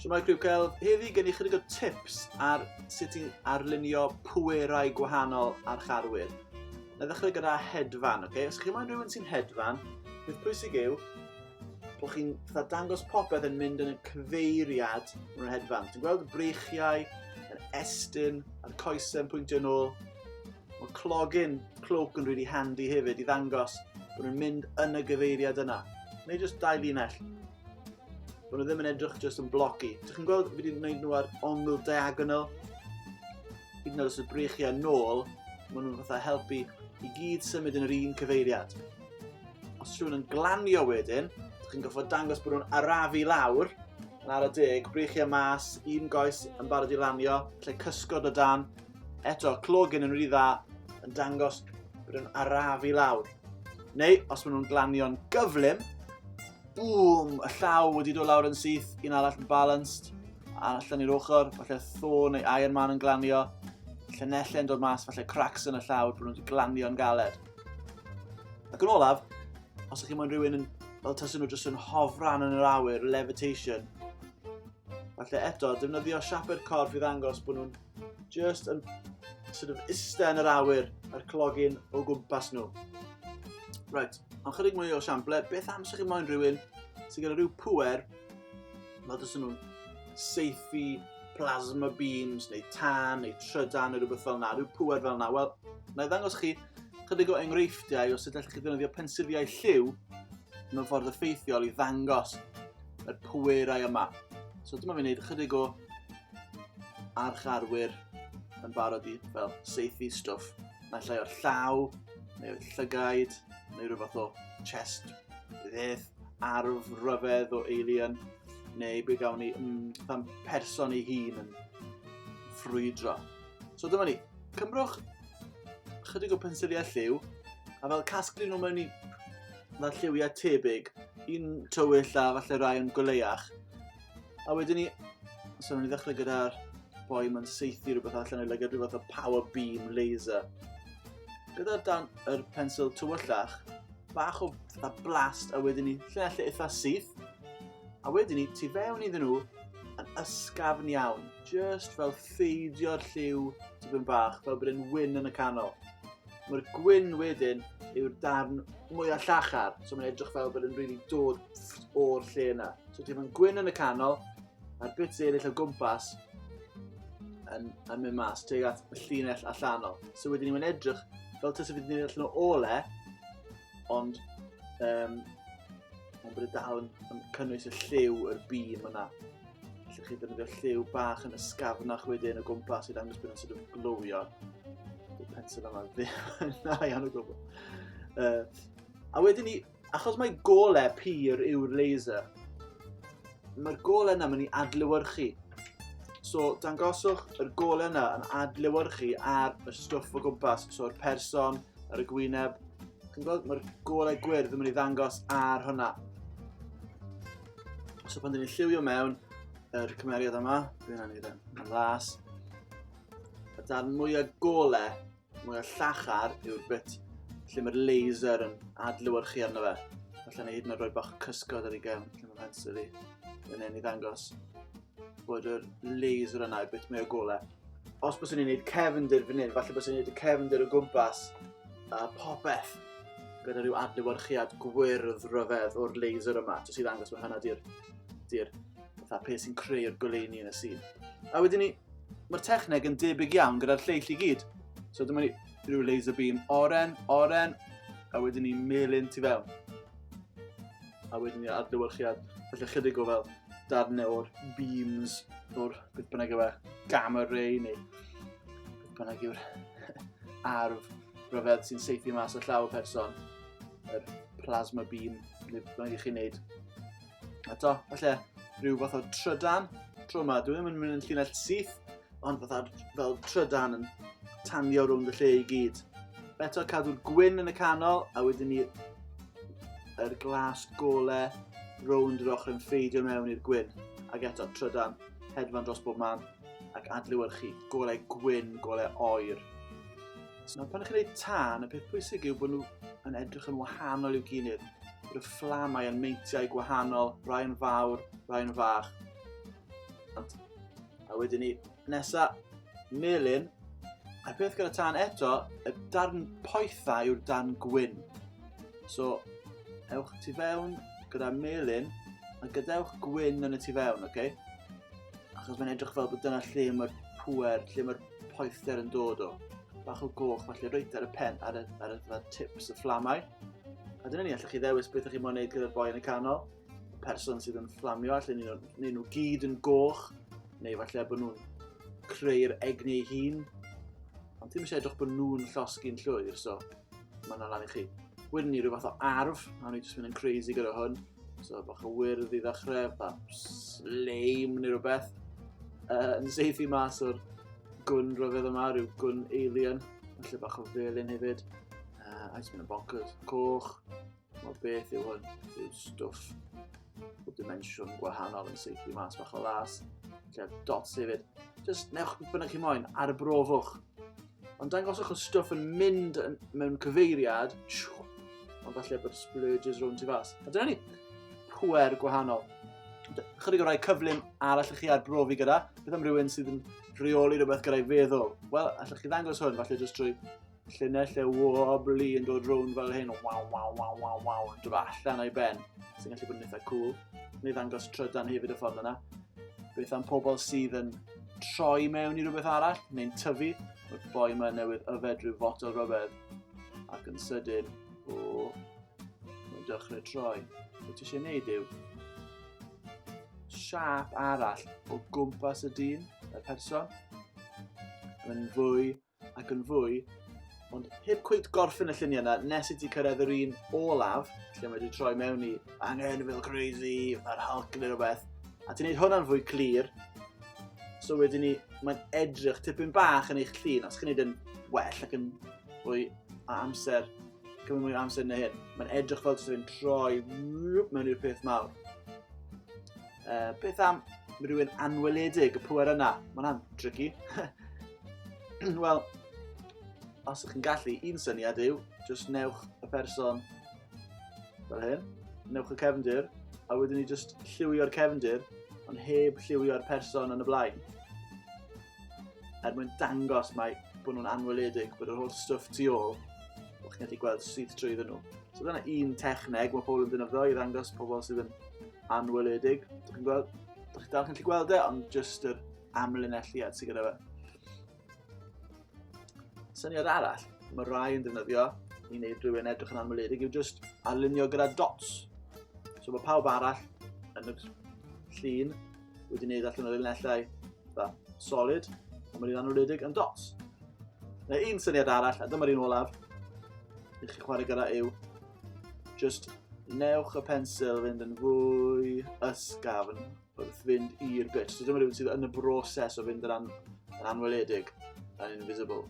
Siwmai Criwcel, heddi gen i chydig o tips ar sut i arlunio pwerau gwahanol ar charwyr. Na ddechrau gyda hedfan, oce? Okay? Os chi moyn rhywun sy'n hedfan, beth pwysig yw, bod chi'n fatha dangos popeth yn mynd yn y cyfeiriad mewn yr hedfan. Ti'n gweld y breichiau, yr estyn, a'r coesau yn pwyntio yn ôl. Mae clogin clwc yn really handy hefyd i ddangos bod nhw'n mynd yn y gyfeiriad yna. Neu jyst dau linell. Bod nhw ddim yn edrych jyst yn bloci. Ti'n chi'n gweld fi wedi gwneud nhw ar ongl diagonal? Hyd yn oed os y breichiau nôl, maen nhw'n fatha helpu i gyd symud yn yr un cyfeiriad. Os rhywun yn glanio wedyn, chi'n goffod dangos bod nhw'n arafu lawr yn ar y deg, brych e mas, un goes yn barod i lanio, lle cysgod o dan. Eto, clogyn yn rhy dda yn dangos bod nhw'n arafu lawr. Neu, os maen nhw'n glanio'n gyflym, bŵm, y llaw wedi dod lawr yn syth, un arall yn balanced, a allan i'r ochr, falle Thor neu Iron Man yn glanio, llynellau yn dod mas, falle cracks yn y llaw, bod nhw'n glanio'n galed. Ac yn olaf, os ydych chi'n mwyn rhywun yn, fel tasyn nhw jyst yn hofran yn yr awyr, levitation, falle eto, defnyddio siapau'r corff i ddangos bod nhw'n just yn sort of iste yn yr awyr a'r clogin o gwmpas nhw. Right, ond chydig mwy o siample, beth am sych chi'n moyn rhywun sy'n gyda rhyw pwer Mae dys nhw'n seithi plasma beams neu tan neu trydan neu rhywbeth fel yna, rhyw pŵer fel yna. Wel, na i ddangos chi chydig o enghreifftiau os ydych chi ddefnyddio pensifiau lliw mewn ffordd effeithiol i ddangos y pwerau yma. So dyma fi'n gwneud chydig o archarwyr yn barod i fel seithi stwff. Mae'n llai o'r llaw, neu o'r llygaid, neu rhywbeth o chest, beth. arf ryfedd o alien, neu be gawn ni, mm, pan person ei hun yn ffrwydro. So dyma ni, cymrwch chydig o pensiliau lliw, a fel casglu nhw mewn i fel lliwiau tebyg, un tywyll a falle rai yn goleiach, A wedyn ni... So, ni ddechrau gyda'r boi mae'n seithi rhywbeth allan o'i lygad, rhywbeth o power beam laser. Gyda'r dan yr pensil tywyllach, bach o fatha blast, a wedyn ni lle lle eitha syth. A wedyn ni, tu fewn iddyn nhw, yn ysgafn iawn. Just fel ffeidio'r lliw tipyn bach, fel bod yn wyn yn y canol. Mae'r gwyn wedyn yw'r darn mwyaf llachar, so mae'n edrych fel bod yn rili really dod o'r lle yna. So ti'n mynd gwyn yn y canol, a'r bits eraill o gwmpas yn, yn mynd mas teg at y llinell allanol. So wedyn ni'n mynd edrych fel tysa fi wedi gwneud allan o ole, ond um, ond bod e dal yn, yn cynnwys y lliw, yr bîm yna. Felly chi ddefnyddio lliw bach yn ysgafnach wedyn o gwmpas i ddangos bod yn sort of glywio. Dwi'n pensyn yma ddim na iawn o gwbl. Uh, a wedyn ni, achos mae gole pyr yw'r laser, mae'r gole yna mynd i adlywyrchu. So, dangoswch yr gole yna yn adlywyrchu ar y stwff o gwmpas, so'r person, ar y gwyneb. Chi'n gweld, mae'r golau gwyrdd yn mynd i ddangos ar hwnna. So pan dyn ni'n lliwio mewn yr cymeriad yma, dwi'n angen yn e, las, y darn mwyaf golau, mwyaf llachar yw'r bit lle mae'r laser yn adlywyrchu arno fe. Felly ni hyd yn oed rhoi bach cysgod ar ei gem, lle mae pensel i, yn ei ddangos. bod yr laser yna i beth mae o golau. Os bys ni'n gwneud cefndir fan hyn, falle bys ni'n gwneud y cefndir o gwmpas a popeth gyda rhyw adlewyrchiad gwyrdd rhyfedd o'r laser yma, jyst i ddangos mae hynna di'r di fatha peth sy'n creu'r goleini yn y sîn. A wedyn ni, mae'r techneg yn debyg iawn gyda'r lleill i gyd. So dyma ni rhyw laser beam oren, oren, a wedyn ni melyn tu fewn. a wedyn ni adlewyrchiad, felly chydig o fel darnau o'r beams, o'r beth bynnag yw e, gamma ray neu beth bynnag yw'r arf rhyfedd sy'n seithi mas o llaw person, y plasma beam, neu beth bynnag i chi'n neud. A to, falle rhyw fath o trydan, tro yma, dwi ddim yn mynd yn llinell syth, ond fatha fel trydan yn tanio rownd y lle i gyd. Eto cadw'r gwyn yn y canol, a wedyn ni yr glas gole rownd yr ochr yn ffeidio mewn i'r gwyn. Ac eto trydan, hedfan dros bob man, ac adlewyrchu golau gwyn, golau oer. So, pan ydych chi'n gwneud tân, y peth pwysig yw bod nhw yn edrych yn wahanol i'w gilydd. Bod y fflamau yn meintiau gwahanol, rai yn fawr, rai yn fach. Ond A wedyn ni, nesa, melyn. A'r peth gyda tan eto, y darn poetha yw'r darn gwyn. So, ewch tu fewn gyda melyn, a gadewch gwyn yn y tu fewn, oce? Okay? Achos mae'n edrych fel bod dyna lle mae'r pwer, lle mae'r poether yn dod o. Bach o goch, falle reit ar y pen, ar y, ar y, ar y tips y fflamau. A dyna ni, allwch chi ddewis beth ydych chi'n mwyn gwneud gyda'r boi yn y canol. person sydd yn fflamio, allan nhw, neu nhw gyd yn goch, neu falle bod nhw'n creu'r egni ei hun. Ond ti'n eisiau edrych bod nhw'n llosgi'n llwyr, so mae yna lan i chi. Wedyn ni rhyw fath o arf, a ni jyst mynd yn crazy gyda hwn. So bach o wyrdd i ddechrau, bach sleim neu rhywbeth. Uh, yn seithi mas o'r gwn rhyfedd yma, rhyw gwn alien. Felly bach o felyn hefyd. Uh, a jyst mynd yn bonkers. Coch, Wel, beth yw hwn? Yw stwff o dimensiwn gwahanol yn seithi mas bach o las. Lle dots hefyd. Just newch beth bynnag chi moyn, ar y brofwch. Ond dangoswch y stwff yn mynd yn, mewn cyfeiriad, ond falle bod splurges rhwng ti fas. A dyna ni, pwer gwahanol. Chydig o rai cyflym ar allwch chi arbrofi gyda, beth am rhywun sydd yn rheoli rhywbeth gyda'i feddwl? Wel, allwch chi ddangos hwn, falle jyst drwy Llinell y wobbly yn dod rownd fel hyn, waw, waw, waw, waw, waw, yn dod allan o'i ben, sy'n gallu bod yn eitha cool. Neu ddangos trydan hefyd y ffordd yna. Beth am pobl sydd yn troi mewn i rhywbeth arall, neu'n tyfu, y boi yma newydd yfed rhyw fotol rhyfedd, ac yn sydyn, o, mae'n dechrau troi. Be ti eisiau gwneud yw, siap arall o gwmpas y dyn, y person, yn fwy ac yn fwy, ond heb cweit gorffen y lluniau yna, nes i ti cyrraedd yr un olaf, lle mae wedi troi mewn i angen fel crazy, ar Hulk neu rhywbeth, a ti'n gwneud hwnna'n fwy clir, so wedyn ni, mae'n edrych tipyn bach yn eich llun, os chi'n gwneud yn well ac yn fwy a amser, cymryd mwy o amser yn y hyn, mae'n edrych fel sy'n troi mewn i'r peth mawr. Uh, beth am rhywun anweledig y pwer yna? Mae hwnna'n tricky. Wel, os ydych chi'n gallu, un syniad yw, jyst newch y person fel hyn, newch y cefndir, a wedyn ni jyst lliwio'r cefndir, ond heb lliwio'r person yn y blaen. Er mwyn dangos mae bod nhw'n anweledig, bod yr holl stwff tu ôl, bod chi'n gallu gweld sydd trwy iddyn nhw. So dyna un techneg mae pobl yn dynyddo i ddangos pobl sydd yn anweledig. Dych chi'n gweld? Dych chi'n dal chi'n gweld e, ond jyst yr amlinelliad sydd gyda fe. Syniad arall, mae rai yn defnyddio i wneud rhywun edrych yn anweledig yw just arlunio gyda dots. So mae pawb arall yn y llun wedi wneud allan o'r linellau da, solid, a mae'n anweledig yn dots. Neu un syniad arall, a dyma'r un olaf, i chi chwarae gyda yw Just newch y pensil fynd yn fwy ysgafn wrth fynd i'r bit. So dyma rhywun sydd yn y broses o fynd yn, an yn anweledig yn invisible.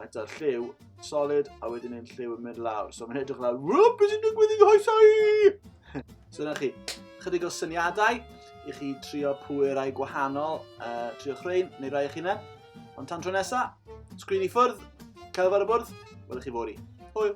Eto, lliw, solid, a wedyn yn lliw yn mynd lawr. So mae'n edrych lawr, wwp, beth sy'n digwydd i hoesau? so dyna chi, chydig o syniadau i chi trio pwyrau gwahanol, uh, trio chreu, neu rai eich hunain. Ond tan tro nesa, sgrin i ffwrdd, cael fawr y bwrdd, welwch chi fori. Hwyl!